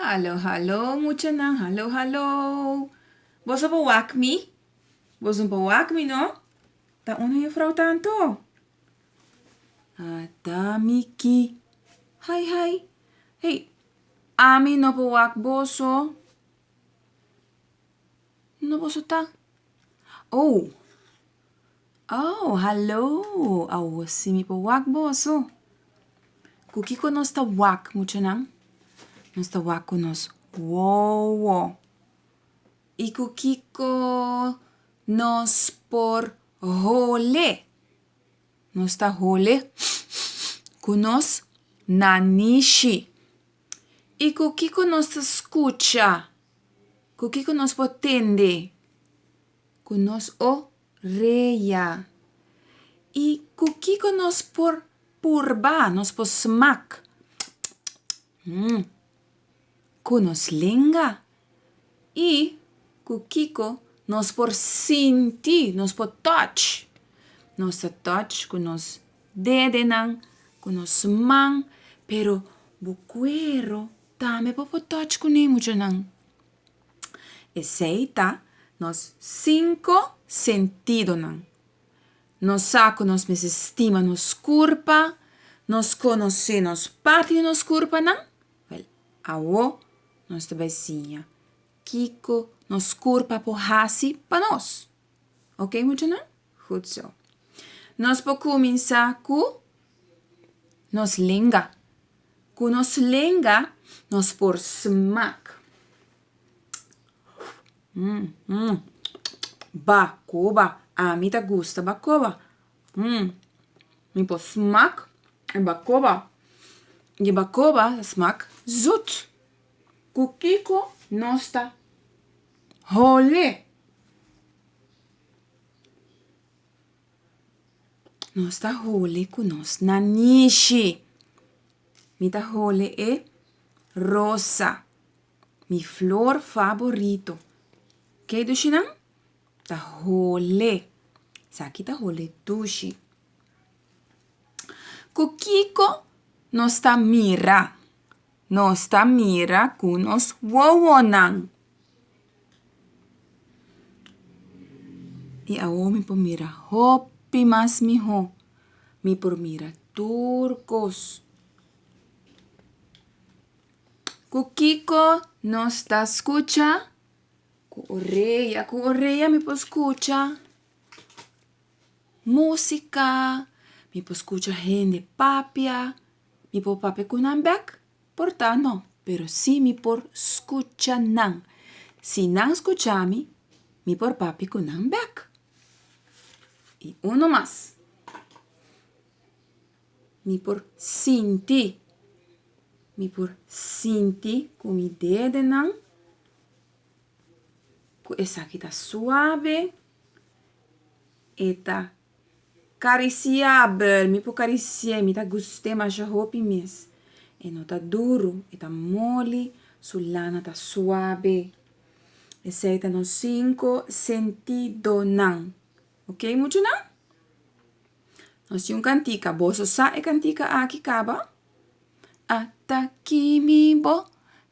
Hallo hallo muchanan hallo hallo boso bo wak mi boso bo wak mi no ta uno juffrouw tanto ada miki hai hai hey ami no bo wak boso no boso ta oh Oh, hallo! Awo sí mi por wak boso. Ku kiko nos ta wak, muchanan? Nos ta wak ku nos wowo. I ku kiko nos por hole? Nos ta hole ku nos nanishi. I ku kiko nos ta skucha? Ku kiko nos por tende? ku nos o reia. I ku kiko nos por purba, nos por smak, tsk-tsk-tsk-mm, ku nos lenga? I ku kiko nos por sinti, nos por touch? Nos ta touch ku nos dedenan, ku nos man, pero bo kuero tambe por por touch kuné muchunan. Esei ta nos sinku sentidonan. Nos sa ku nos mester stima nos kurpa, nos konosé nos parti di nos kurpanan. Wèl, awo nos ta bai siña kiko nos kurpa por hasi pa nos. Oke muchanan? Goed zo. Nos por cuminsa cu nos lenga. Cu nos lenga nos por smak. Bacoba, ami ta gusta bacoba. Mi por smak e bacoba. E bacoba ta smak zoet. Cu kico nos ta hole? Nos ta hole ku nos na nishi. Mi ta hole e rosa, mi flor faborito. Ke dushi nan ta hole. Esaki ta hole dushi. Ku kiko nos ta mira Nos ta mira cu nos wowonan. I awor mi por mira hopi mas miho. Mi por mira tur cos. Cu kico nos ta scucha? Cu orea. Cu orea mi por scucha. músika, mi por skucha hende papia. Mi por papia ku nan bèk? Por ta no, pero sí mi por skucha nan. Si nan skucha mi, mi por papia ku nan bèk. I unu mas, mi por sinti, mi por sinti ku mi dedenan ku esaki ta suave, E ta karisiabel, mi por karisi'é, mi ta gust'é masha hopi mes. E no ta duru, e ta moli, su lana ta suabe. Esei ta nos sinku sentidonan, ok muchanan? Nos tin un kantika, boso sa e kantika aki kaba? Ata ki mi bo,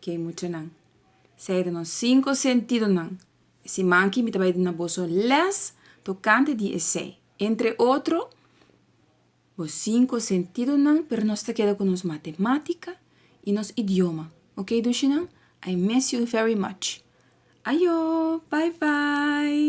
Ke e muchanan. Sea di nos sinko sentidonan. E siman aki mi ta bai duna boso lès tokante di esei. Entre otro, Bo sinko sentidonan, pero nos ta keda ku nos matematika i nos idioma. Ok dushinan? I miss you very much. Ayo! Bye bye!